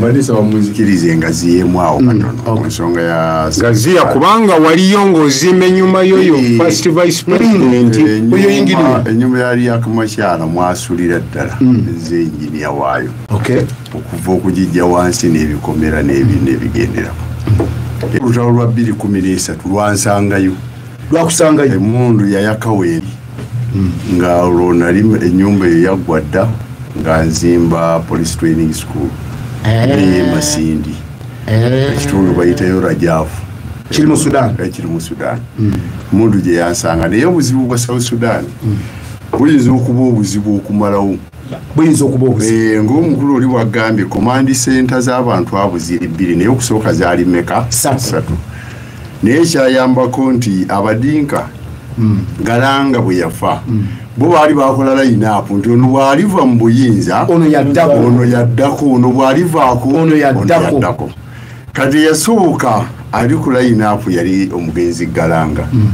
balesa bamunzikiriza engazi yemu awo mm, katono ensonga ya gaziya kubanga waliyo ngaozimba enyuma yoyo eh, first vice mm. president eh, oyo yingiriwa enyuma yali yakamakyala mwasulira ddala mm. nze enginia waayo okuva okugijja wansi n'ebikomera n'ebintu ebigenderako olutalo lwa bbiri kumi n'esatu lwansangayo lwakusangayo emundu yayakaweeri hmm. nga olwo nali enyumba eyo yaggwa dda nga nzimba police training school eye eh. masindi eh. ekitundu bayitayo rajavu kiri mu sudan ekiri eh, mu sudan hmm. mundu gye yansanga naye obuzibu bwa south sudan hmm. buyinza okuba obuzibu okumalawo buyinza okuba eh, ngaomukulu oli wagambye komandi senta z'abantu abo ziri bbiri naye okusooka zaali meka satu naye kyayambako nti abadinka hmm. galanga bwe yafa hmm. bo baali bakola layinaapu nti ono bwaliva mu buyinza ono yaddako ono bwalivaako ono yaddako kati eyasooka ali ku layinaapu yali omugenzi galanga hmm.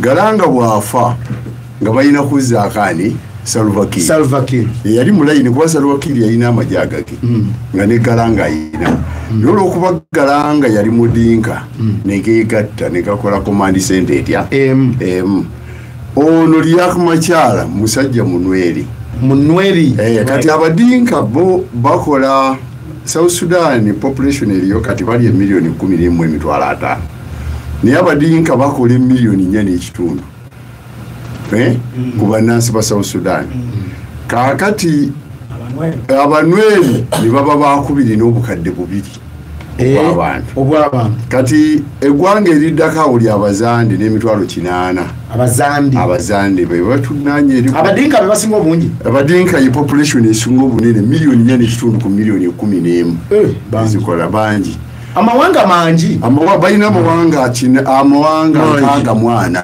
galanga bwafa nga balina kuzzaako ani salvakir salvakir yali mulayini kuba salvakir yalina amagye agage mm. nga negala nga ayina mm. naye olwokuba gala nga yali mudinka mm. negegatta negakola komandi sente etya emu emu ono liak makyala musajja munweri munweri eh, kati abadinka bo bakola south sudan population eriyo kati bali emiliyoni kumi nemu emitwalo ataano naye abadinka bakola emiliyoni nya nekitundu eh, mm. ku bannansi ba south sudan mm. kaakati abanweri ne baba bakubiri n'obukadde bubiri eh, obwabantu kati eggwanga eriddako awo lya abazande n'emitwalo kinaana abazande bebatunanyeabadinkabebasinga obungi abadinka ye population esinga obunene miliyoni nya nekitundu ku miliyoni ekumi n'emu eh, zikola bangi amawanga mangi balina amawanga kine amawanga nkaaga mwana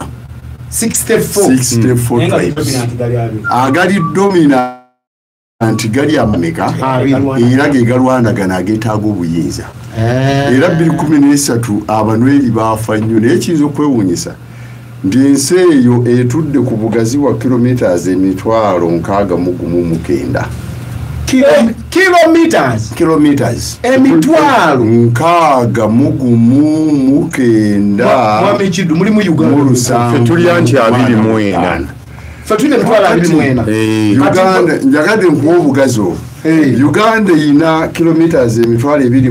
agali domina nti gali amameka era ge galwanagana agetaaga obuyinza eh. era 213 abanweri baafa nnyo naye kiyinza okwewuunyisa nti ensi eyo etudde ku bugazi bwa kilometres emitwalo nkaaga mu gumu mukenda emitwalo nkaaga mugumu mukendamulusangotulya nti abiri mwena njagadde nkuwa obugazi obwo uganda erina kilometres emitwalo ebiri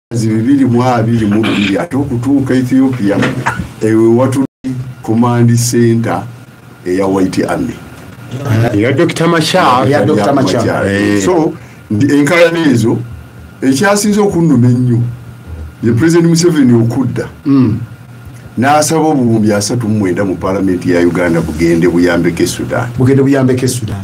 zi bibiri mu abiri mu bbiri ate okutuuka ethiopia ewe watuli command center eya white army eya dr machar eya dr machar eh. so enkalana ezo ekyasinze okunnuma ennyo ye president museveni okudda mm. n'asaba obuwumbi asatu mu mwenda mu palamenti ya uganda bugende buyambeko e sudan bugende buyambeko e sudan